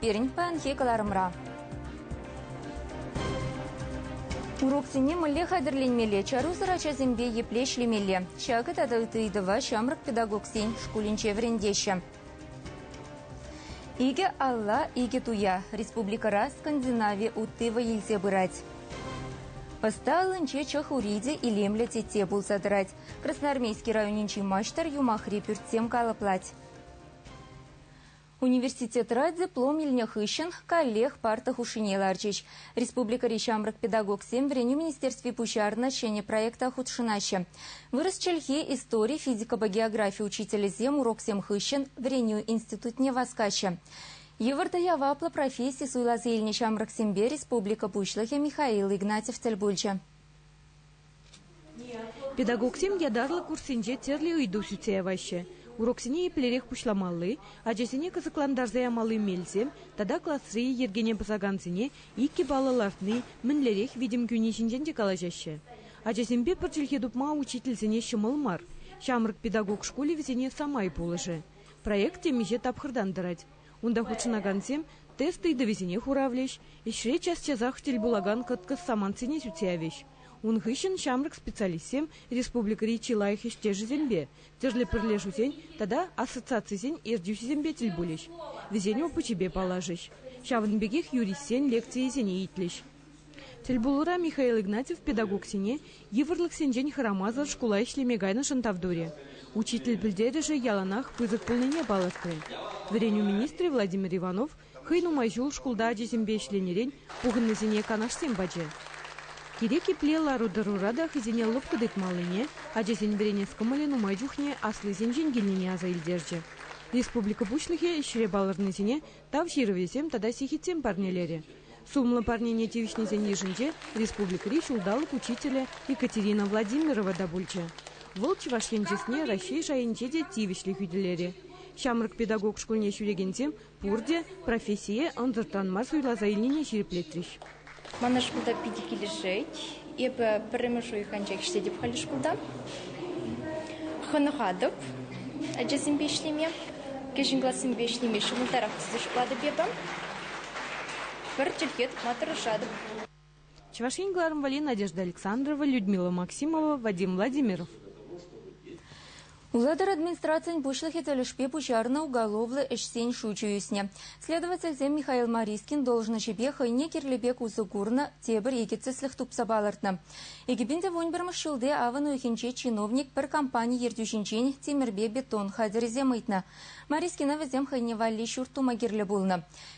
пирӗн паянхи кӑларӑмра. Уроксене мӗнле хатӗрленмелле, чарусӑр ачасемпе епле ӗҫлемелле, ҫакӑ тата ытти ыйтӑва ҫамрӑк педагогсен шкулӗнче вӗрентеҫҫӗ. Икӗ алла, икӗ туя республикӑра скандинави утти вӑй илсе пырать. Ӑста аллинче чӑх ури те илемлӗ тетте пулса тӑрать. Красноармейски районӗнчи маҫтӑр юмахри пӳртсем калӑплать. Университетра диплом илнӗ хыҫҫӑн каллех парта хушшине ларчӗҫ. Республикӑри ҫамрӑк педагогсем вӗренӳ министерстви пуҫарнӑ ҫӗнӗ проекта хутшӑнаҫҫӗ. Вырӑс чӗлхи, истори, физикӑпа географи учителӗсем уроксем хыҫҫӑн вӗренӳ институтне васкаҫҫӗ. Йывӑр та яваплӑ професси суйласа илнӗ ҫамрӑксемпе республика Пуҫлӑхӗ Михаил Игнатьев тӗл пулчӗ. Педагогсем ятарлӑ курссенче тӗрлӗ ыйту сӳтсе яваҫҫӗ: уроксене еплерех пуҫламалли, ачасене кӑсӑклантарса ямалли мелсем тата класри йӗркене пӑсакансене иккӗ баллӑ лартни мӗнлерех витӗм кӳни ҫинчен те калаҫаҫҫӗ. Ачасемпе пӗр чӗлхе тупма учительсене ҫӑмӑл мар. Ҫамрӑк педагог шкулӗ вӗсене самай пулӑшӗ. Проект темиҫе тапхӑртан тӑрать. Унта хутшӑнакансем тест ыйтӑвӗсене хуравлӗҫ, ӗҫре час-часах тӗл пулакан кӑткӑс самантсене сӳтсе явӗҫ. Ун хыҫҫӑн ҫамрӑк специалистсем республикӑри чи лайӑх ӗҫтешӗсемпе, тӗрлӗ пӗрлешӳсен тата ассоциацисен ертӳҫисемпе тӗл пулӗҫ, вӗсен опычӗпе паллашӗҫ, ҫавӑн пекех юристсен лекцийӗсене итлӗҫ. Тӗлпулура Михаил Игнатьев педагогсене йывӑрлӑхсенчен хӑрамасӑр шкула ӗҫлеме кайнӑшӑн тав турӗ, учитель пӗлтерӗшӗ яланах пысӑк пулнине палӑртрӗ. Вӗренӳ министрӗ Владимир Иванов хӑй нумай ҫул шкулта ачисемпе ӗҫленӗрен пухӑннисене канашсем пачӗ. Кирек епле лару-тӑрура та хӑйсене лӑпкӑ тытмаллине, ачасен вӗренес кӑмӑлӗ нумай чухне аслисенчен килнине аса илтерчӗ. Республика Пуҫлӑхӗ ӗҫре палӑрнисене Тав ҫырӑвӗсем тата сехетсем парнелерӗ. Сумлӑ парнене тивӗҫнисен йышӗнче республикӑри ҫулталӑк учителӗ Екатерина Владимирова та пулчӗ. Вӑл Чӑваш Ен чысне Раҫҫей шайӗнче те тивӗҫлӗ хӳтӗлерӗ. Ҫамрӑк педагог шкулне ҫӳрекенсем пурте профессие ӑнсӑртран мар суйласа илнине ҫирӗплетрӗҫ. Мана шкулта питӗ килӗшет. Эпӗ пӗрремӗш уйӑх анчах ӗҫлетӗп халӗ шкулта. Хӑнӑхатӑп ачасемпе ӗҫлеме. Кӗҫӗн классемпе ӗҫлеме ҫӑмӑлтарах тесе шутлатӑп эпӗ. Пӗр чӗлхе тупма тӑрӑшатӑп. Чӑваш Ен кӑларӑм валли Надежда Александрова, Людмила Максимова, Вадим Владимиров. Улатӑр администрацийӗн пуҫлӑхӗ тӗлӗшпе пуҫарнӑ уголовлӑ ӗҫсен шучӗ ӳснӗ. Следовательсем Михаил Марискин должноҫӗпе хӑйне кирлӗ пек усӑ курнӑ тепӗр икӗ тӗслӗх тупса палӑртнӑ. 2011 ҫулти авӑн уйӑхӗнче чиновник пӗр компани ертӳҫинчен тимӗрпе бетон хатӗрӗсем ыйтнӑ. Марискина вӗсем хӑйне валли ҫурт тума кирлӗ пулнӑ.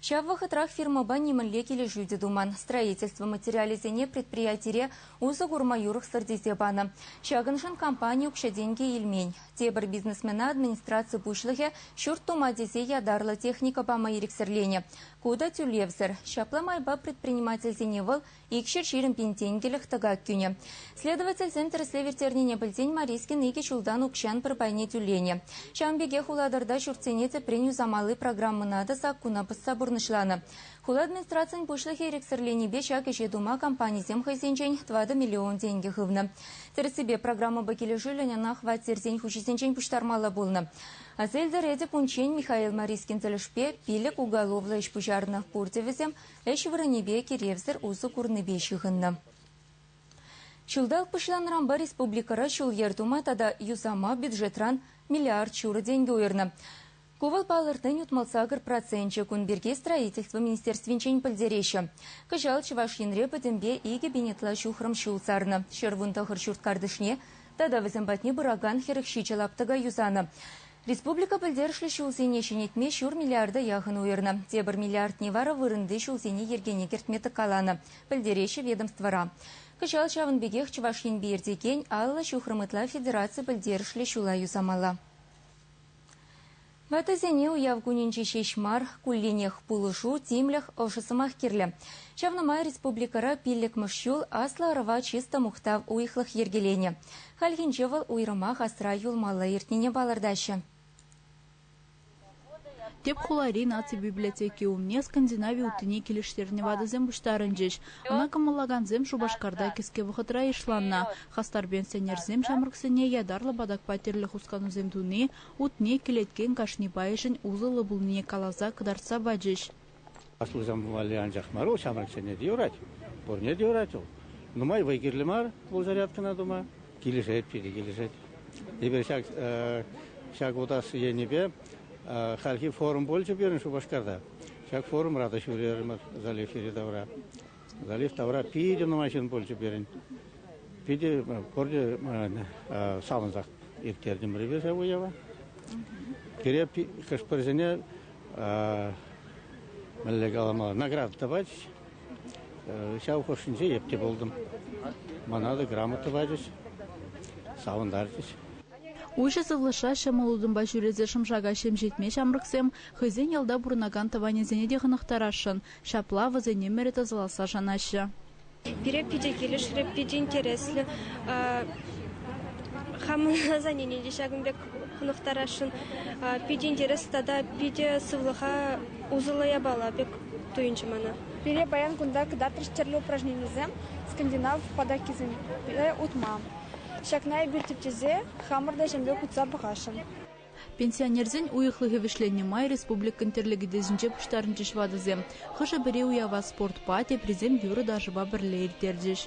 Ҫав вӑхӑтрах фирмӑпа нимӗнле килӗшӳ те туман. Строительство материалӗсене предприятире усӑ курма юрӑхсӑр тесе панӑ. Ҫакӑншӑн компани укҫа-тенкӗ илмен. Тепӗр бизнесмена администраци пуҫлӑхӗ ҫурт тума тесе ятарлӑ техника пама ирӗксӗрленӗ. Ку та тӳлевсӗр. Ҫапла майпа предпринимательсене вӑл икҫӗр ҫирӗм пин тенкӗлӗх тӑкак кӳнӗ. Следовательсем тӗрӗслев ирттернине пӗлсен Марискин икӗ ҫултан укҫан пӗр пайне тӳленӗ. Ҫавӑн пекех Улатӑрта ҫуртсене тӗпрен юсамалли программӑна та саккуна пӑсса пурнӑҫланӑ. Хула администрацийӗн пуҫлӑхӗ ирӗксӗрленипе ҫак ӗҫе тума компанисем хӑйсенчен тӑватӑ миллион тенкӗ хывнӑ. Тӗрӗссипе, программӑпа килӗшӳллӗн ӑна хваттерсен хуҫисенчен пуҫтармалла пулнӑ. Асельдер Эдип унччен Михаил Марискин тӗлӗшпе пилӗк уголовлӑ ӗҫ пуҫарнӑ, пурте вӗсем ӗҫ вырӑнӗпе киревсӗр усӑ курнипе ҫыхӑннӑ. Ҫулталӑк пуҫланнӑранпа республикӑра ҫул-йӗр тума тата юсама бюджетран миллиард ҫурӑ тенкӗ уйӑрнӑ. Ку вӑл палӑртнин утмӑлсакӑр проценчӗ. Кун пирки Строительство министерствинчен пӗлтереҫҫӗ. Кӑҫал Чӑваш Енре пӗтӗмпе икӗ пин ытла ҫухрӑм ҫул сарнӑ. Ҫӗр вун тӑхӑр ҫурт картишне тата вӗсем патне пыракан хӗрӗх ҫичӗ лаптӑка юсанӑ. Республика пӗлтерӗшлӗ ҫулсене ҫӗнетме ҫур миллиарда яхӑн уйӑрнӑ. Тепӗр миллиардне вара вырӑнти ҫулсене йӗркене кӗртме тӑккаланӑ, пӗлтереҫҫӗ ведомствӑра. Кӑҫал ҫавӑн пекех Чӑваш Енпе иртекен аллӑ ҫухрӑм ытла федераци пӗлтерӗшлӗ ҫула юсамалла. Ватӑсене уяв кунӗнче ҫеҫ мар, кулленех пулӑшу, тимлӗх, ӑшӑ сӑмах кирлӗ. Ҫавна май республикӑра пиллӗкмӗш ҫул аслӑ ӑрӑва чысто мухтав уйӑхлӑх йӗркеленӗ. Хальхинче вӑл уйрӑмах асра юлмалла иртнине палӑртаҫҫӗ. Тӗп хулари наци библиотеки умне скандинави уттине килӗштернӗ ватӑсем пуҫтарӑнчӗҫ. Ӑна кӑмӑллакансем Шупашкарта кӗске вӑхӑтра йышланнӑ. Хастар пенсионерсем ҫамрӑксене ятарлӑ патакпа тӗрлӗ хусканусем туни, утне кӗлеткен кашни пайӗшӗн усӑллӑ пулнине каласа кӑтартса пачӗҫ. Аслисем валли анчах мар вӑл, ҫамрӑксене те юрать. Пурне те юрать вӑл. Нумай вӑй кирлӗ мар вӑл зарядкӑна тума. Килӗшет, питӗ килӗшет. Эпир ҫак, ҫак утас енӗпе хальхи форум пулчӗ пирӗн Шупашкарта. Ҫак форумра та ҫӳрерӗмӗр залив йӗри-тавра. Галиф тавра питӗ нумай ҫын пулчӗ пирӗн. Питӗ пурте савӑнсах ирттертӗм ревиза уява. Пире хӑш-пӗрсене мӗнле каламалла награда тӑватчӗҫ. Ҫав хушшинче епте пултӑм. Мана та грамота пачӗҫ, савӑнтарчӗҫ. Уҫӑ сывлӑшра ҫӑмӑл утӑмпа ҫӳресе шӑм-шака ҫемҫетме ҫамрӑксем хӑйсен ялта пурӑнакан тӑванӗсене те хӑнӑхтарасшӑн. Ҫапла вӗсен ӗмӗрӗ тӑсӑласса шанаҫҫӗ. Пире питӗ килӗшрӗ, питӗ интереслӗ. Хамӑн название те ҫакӑн пек хӑнӑхтарасшӑн. Питӗ интерес тата питӗ сывлӑха усӑллӑ япала пек туйӑнчӗ мана. Пире паян кунта кӑтартрӗҫ тӗрлӗ упражненисем, скандинав патаккисемпе утма. Ҫакна эпир тӗпчесе хамӑр та ҫемпе утса пӑхасшӑн. Пенсионерсен уйӑхлӑхӗ вӗҫленнӗ май республикӑн тӗрлӗ кӗтесӗнче пуҫтарӑнчӗҫ ватӑсем. Хӑшӗ-пӗри уява спортпа, теприсем юрӑ-ташӑпа пӗрле ирттерчӗҫ.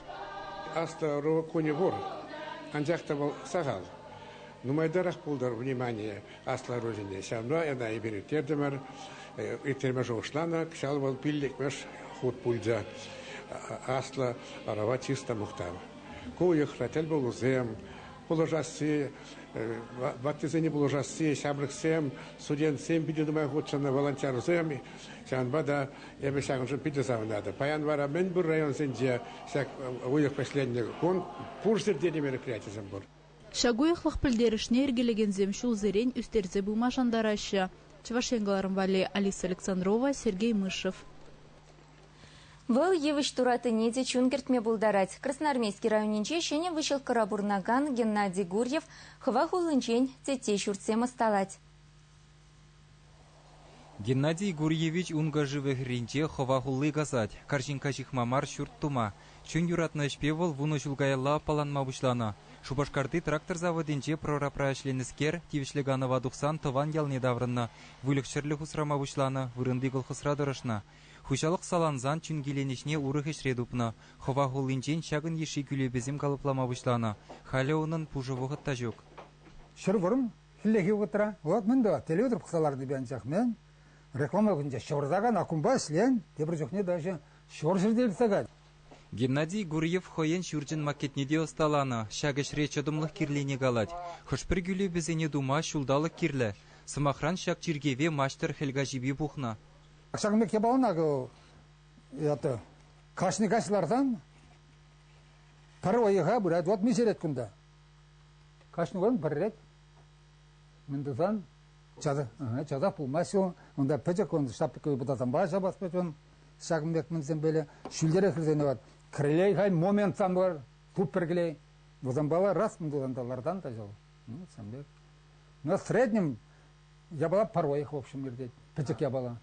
Астӑвӑру кунӗ пур, анчах та вӑл сахал. Нумайтарах пултӑр внимание аслӑ ӑрусене, ҫавӑнпа ӑна эпир ирттертӗмӗр. Ирттерме шухӑшланӑ, кӑҫал вӑл пиллӗкмӗш хут пулчӗ. Аслӑ ӑрӑва чыс та мухтав. Ку уйӑхра тӗл пулусем, пулӑшасси, ваттисене пулӑшасси, ҫамрӑксем, студентсем питӗ нумай хутшӑннӑ волонтерсем. Ҫавӑнпа та эпӗ ҫакӑншӑн питӗ савӑнатӑп. Паян вара мӗн пур районсенче ҫак уйӑх вӗҫленнӗ кун пур ҫӗрте те мероприятисем пур. Ҫак уйӑхлӑх пӗлтерӗшне йӗркелекенсем ҫулсерен ӳстерсе пыма шантараҫҫӗ. Чӑваш Ен кӑларӑм валли Алиса Александрова, Сергей Мышев. Вӑл йывӑҫ туратине те чун кӗртме пултарать. Красноармейски районӗнче ҫӗнӗ выҫӑлккӑра пурӑнакан Геннадий Гурьев хӑва хуллинчен тетте ҫуртсем ӑсталать. Геннадий Гурьевич ункӑ шывӗ хӗрринче хӑва хулли касать. Карҫинкка ҫыхма мар ҫурт тума. Чун юратнӑ ӗҫпе вӑл вунӑ ҫул каялла аппаланма пуҫланӑ. Шупашкарти трактор заводӗнче прорабра ӗҫленӗскер тивӗҫлӗ канӑва тухсан тӑван ялне таврӑннӑ. Выльӑх-чӗрлӗх усрама пуҫланӑ, вырӑнти колхозра тӑрӑшнӑ. Хуҫалӑх салансан чин киленӗҫне урӑх ӗҫре тупнӑ. Хӑва хуллинчен ҫакӑн йышши кӳлепесем калӑплама пуҫланӑ. Халӗ унӑн пушӑ вӑхӑт та ҫук. Ҫӗр вӑрӑм хӗллехи вӑхӑтра вӑл мӗн тӑвать, телевизор пӑхса ларнипе анчах мӗн, реклама кунччен ҫӑвӑртакан аккумпа ӗҫлен, тепӗр чухне даже ҫурҫӗрте иртсе кать. Геннадий Гурьев хӑйӗн ҫурчӗн макетне те ӑсталанӑ. Ҫак ӗҫре чӑтӑмлӑх кирлине калать. Хӑш-пӗр кӳлепесене тума ҫулталӑк кирлӗ. Сӑмахран, ҫак чиркӗве маҫтӑр хӗл каҫипе пухнӑ. Ҫакӑн пек япалана ята кашни каҫ лартан пӗр уйӑха пырать, вот миҫерет кунта. Кашни кун пӗррет. Мӗн тусан часах, часах пулмасть ю. Унта пӗчӗк он шапка путасампа ҫапас пек он. Ҫакӑн пек мӗнсем böyle ҫӳлтерех хырсене вот. Крылей хай моментсан бар, туп пергелей. Вазамбала раз мын тутан та лартан та жал. Ну, сам пек. Но в среднем Япала поройӗх, в общем, иртет. Пӗчӗк япала.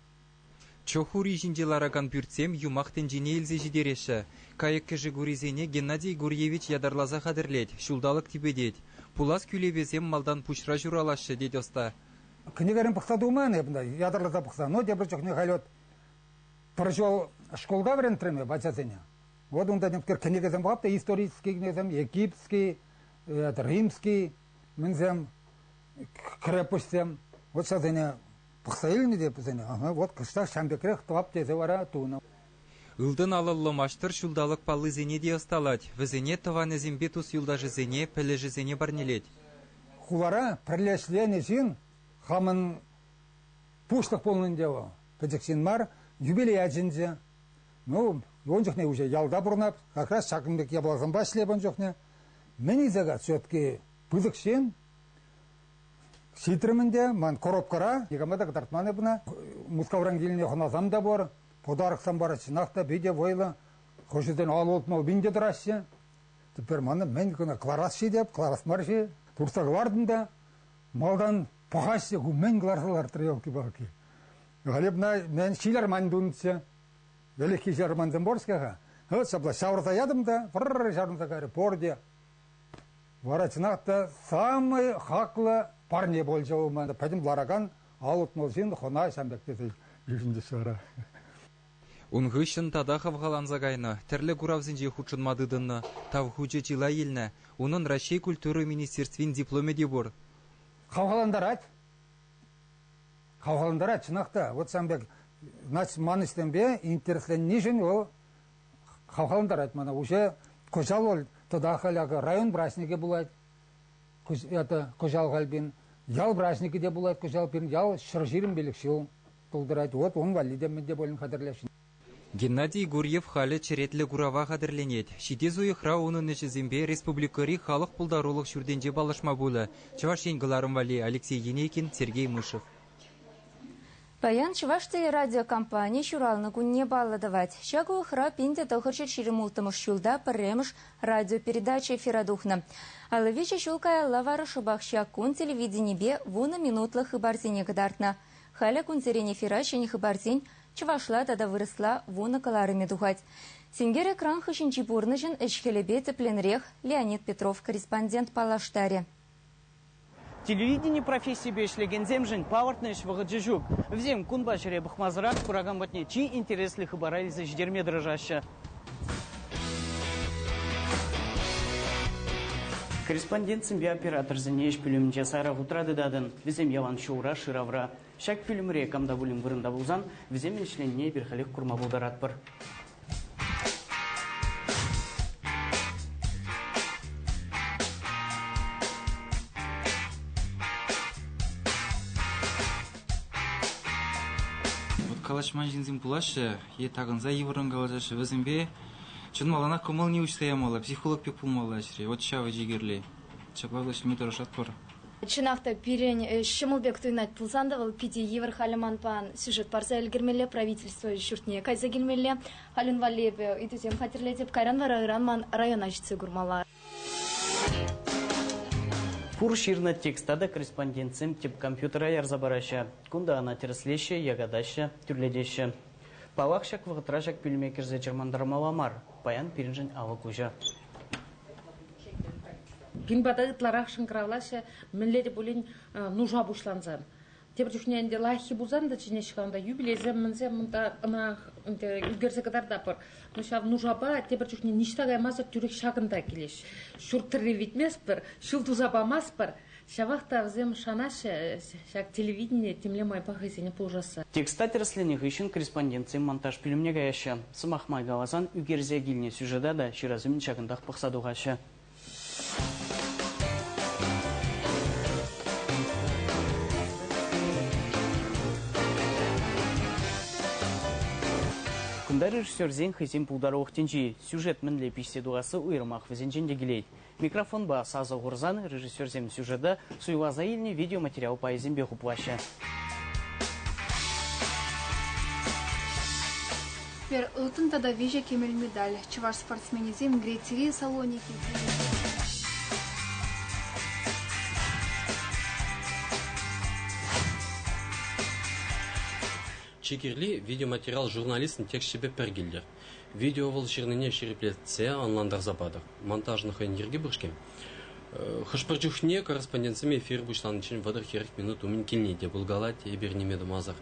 Чох ури ҫинче ларакан пӳртсем юмах тӗнчене илсе ҫитереҫҫӗ. Кайӑк-кӗшӗк урисене Геннадий Гурьевич ятарласа хатӗрлет, ҫулталӑк типӗтет. Пулас кӳлепесем малтан пуҫра ҫуралаҫҫӗ, тет ӑста. Кӗнекерен пӑхса тухман эп ӑнта, ятарласа пӑхса, но тепӗр чухне халь вот пӗр ҫул шкулта вӗрентрӗм эп ачасене. Вот унта кӗнекесем пулап та исторические кӗнекесем, египетский, римский, Мӗнсем, крепоҫсем вӑтсасене пӑхса илнӗ те вӗсене. Вот кӑштах ҫам пекрех тӑвап тесе вара тунӑ. Ылтӑн алӑллӑ маҫтӑр ҫулталӑк паллисене те ӑсталать, вӗсене тӑванӗсемпе тус-юлташӗсене, пӗлӗшӗсене парнелет. Хулара пӗрле ӗҫленӗ ҫын хамӑн пуҫлӑх пулнӑ ӗнтӗ вӑл. Пӗчӗк ҫын мар, юбилей ячӗнче. Ну, ун чухне уҫӑ ялта пурӑнап, как раз ҫакӑн пек япаласемпе ӗҫлеп ун чухне. Мӗн илсе-ха щетки пысӑк ҫын? Ҫитрӗм ӗнтӗ, ман коробкӑра никама та кӑтартман эпне. Мускавран килне хӑнасам та пур, подароксам пар, чӑнах та питӗ вӑйлӑ. Хӑшӗсен алӑ утма пин те тӑраҫҫӗ. Теперь мана мӗн кӑна кӑларас-ши теп, кӑларас мар-ши? Туртса кӑлартӑм та малтан пӑхаҫҫӗ, ку мӗн кӑларса лартрӗ, елки-палки. Глебна, мен ҫилӗр ман тунччӗ. Вӗлӗххи ҫармансем пор-ҫке-ха. Вӑт ҫапла ҫавӑрса ятӑм та пӑр ҫарӑнса кайрӗ пурте. Вара чӑнах та самый хаклӑ парне пулчӗ вӑл ман. Пӗтӗм ларакан ал утмӑл ҫын хӑна ҫам пек тесе йышӑнчӗҫ вара. Ун хыҫҫӑн тата хавхаланса кайнӑ, тӗрлӗ куравсенче хутшӑнма тытӑннӑ, тав хучӗ чылай илнӗ. Унӑн Раҫҫей культура министерствин дипломӗ те пур. Хавхалантарать. Хавхалантарать, чӑнах та. Вот сан пек ман ӗҫсемпе интересленнишӗн вӑл хавхалантарать мана. Уже кӑҫал вӑл тата халь акӑ район праҫникӗ пулать. Это кӑҫал халь пин ял праҫникӗ те пулать кӑҫал пин. Ял ҫӗр ҫирӗм пилӗк ҫул тултарать. Вот ун валли те мӗн те пулин хатӗрлесшӗн. Геннадий Гурьев халӗ черетлӗ курава хатӗрленет. Ҫитес уйӑхра унӑн ӗҫӗсемпе республикӑри халӑх пултарулӑх ҫуртӗнче паллашма пулӗ. Чӑваш Ен кӑларӑм валли Алексей Енейкин, Сергей Мышев. Паян Чӑваш телерадиокомпани ҫуралнӑ кунне паллӑ тӑвать. Ҫак уйӑхра пин те тӑхӑрҫӗр ҫирӗм улттӑмӗш ҫулта пӗрремӗш радиопередача эфира тухнӑ. Аллӑ виҫӗ ҫул каялла вара шӑпах ҫак кун телевиденипе вунӑ минутлӑ хыпарсене кӑтартнӑ. Халӗ кунсерен эфира ҫӗнӗ хыпарсен Чӑвашла тата вырӑсла вунӑ кӑларӑмӗ тухать. Синкер экран хыҫӗнчи пурнӑҫӑн ӗҫ-хӗлӗпе тӗпленрех Леонид Петров корреспондент паллаштарӗ. Телевидени профессийӗпе ӗҫлекенсемшӗн палӑртнӑ ӗҫ вӑхӑчӗ ҫук. Вӗсем кунпа ҫӗре пӑхмасӑрах куракан патне чи интереслӗ хыпара илсе ҫитерме тӑрӑшаҫҫӗ. Корреспондентсемпе операторсене ӗҫ пӳлӗмӗнче сарӑ хутра тытатӑн, вӗсем ялан ҫулра, шыравра. Ҫак пӳлӗмре кам та пулин вырӑнта пулсан вӗсемӗн ӗҫленине эпир халех курма пултаратпӑр. калаҫман ҫынсем пулаҫҫӗ е такӑнса йывӑррӑн калаҫаҫҫӗ. Вӗсемпе чӑн малтанах кӑмӑлне уҫса ямалла, психолог пек пулмалла ӗҫре. Вот ҫавӑ чи кирли. Ҫапла вӗҫлеме тӑрӑшатпӑр. Чӑнах та, пирӗн ҫӑмӑл пек туйӑнать пулсан та, вӑл питӗ йывӑр. Халӗ манпа сюжет парса ӗлкӗрмелле, правительство ҫуртне кайса килмелле. Халӗн валли эпӗ ыйтусем хатӗрлетӗп. Кайран вара ыран ман района ҫитсе курмалла. Пур ҫырнӑ текста та корреспондентсем тӗп компьютера ярса параҫҫӗ. Кунта ӑна тӗрӗслеҫҫӗ, якатаҫҫӗ, тӳрлетеҫҫӗ. Паллах, ҫак вӑхӑтра ҫак пӳлӗме кӗрсе чӑрмантармалла мар. Паян пирӗншӗн авӑ куҫӑ. Пин пата ытларах шӑнкӑравлаҫҫӗ, мӗнле те пулин нуша пуҫланса. Тепӗр чухне ӗнтӗ лайӑххи пулсан та чӗнеҫ-ха ӑнта юбилейсем мӗнсем унта ӑна ӗнтӗ ӳкерсе кӑтартатпӑр. Но ҫав нушапа тепӗр чухне ниҫта каймасӑр тӳрех ҫакӑнта килеҫ. Ҫурт тӑрри витместпӗр, ҫил туса памастпӑр. Ҫавах та вӗсем шанаҫҫӗ ҫак телевидение темле майпа хӑйсене пулӑшасса. Текста тӗрӗсленӗ хыҫҫӑн корреспондентсем монтаж пӳлӗмне каяҫҫӗ. Сӑмах май каласан, ӳкерсе килнӗ сюжета та ҫырас умӗн ҫакӑнтах пӑхса тухаҫҫӗ. Кунта режиссерсен хӑйсен пултарулӑх тӗнчи, сюжет мӗнле пиҫсе тухасси уйрӑмах вӗсенчен те килет. Микрофонпа сасӑ хурсан режиссерсем сюжета суйласа илнӗ видеоматериал пайӗсемпе хуплаҫҫӗ. Пӗр ылтӑн тата виҫӗ кӗмӗл медаль чӑваш спортсменӗсем Грецири Салоники Чи кирли видеоматериал журналистӑн тексчӗпе пӗр килтӗр. Видео вӑл ҫырнине ҫирӗплетсе, ӑнлантарса патӑр. Монтажӑн хӑйӗн йӗрки пур-ҫке. Хӑш-пӗр чухне корреспондентсем эфир пуҫланиччен вӑтӑр-хӗрӗх минут умӗн килни те пулкалать. Эпир ниме тумасӑр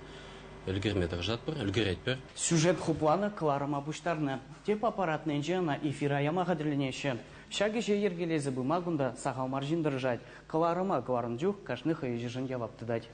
ӗлкӗрме тӑрӑшатпӑр, ӗлкӗретпӗр. Сюжет хупланӑ кӑларӑма пуҫтарнӑ. Тӗп аппаратнинче ӑна эфира яма хатӗрленеҫҫӗ. Ҫак ӗҫе йӗркелесе пыма кунта сахал мар ҫын тӑрӑшать. Кӑларӑма кӑларнӑ чух кашни хӑй ӗҫӗшӗн явап тытать.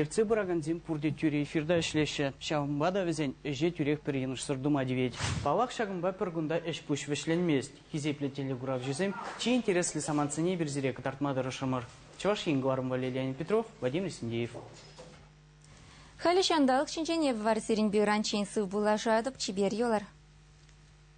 Ертсе пыракансем пурте тӳре ҫырта ӗҫлеҫҫӗ, ҫавӑнпа та вӗсен ӗҫе тӳрех пӗр йӑнӑшсӑр тума тивет. Паллах, ҫакӑнпа пӗр кунта ӗҫ-пуҫ вӗҫленмест. Хисеплӗ телекуравҫӑсем, чи интереслӗ самантсене эпир сире кӑтартма тӑрӑшрӑмӑр. Чӑваш Ен кӑларӑмлӑ Лилиан Петров, Владимир Синдеев. Халӗ ҫанталӑк ҫинчен эп вар сирӗнпе ыранччен сывпуллашатӑп, чипер юлӑр.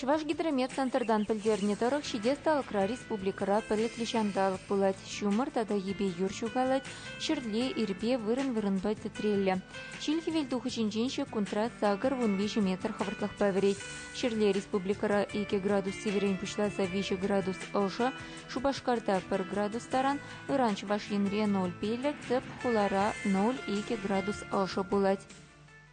Чӑвашгидромет-центртан пӗлтернӗ тӑрӑх, ҫитес талӑкра республикӑра пӗлӗтлӗ ҫанталӑк пулать. Ҫумӑр тата йӗпе юр ҫухалать, ҫӗрле, ирпе, вырӑн-вырӑнпа тӗтреллӗ. Ҫил хӗвелтухӑҫӗнчен ҫеккунтра сакӑр вун виҫӗ метр хӑвӑртлӑхпа вӗрет. Ҫӗрле республикӑра икӗ градус сивӗрен пуҫласа виҫӗ градус ӑшӑ, Шупашкарта пӗр градус таран, ыран Чӑваш Енре ноль пиллӗк, тӗп хулара ноль икӗ градус ӑшӑ пулать.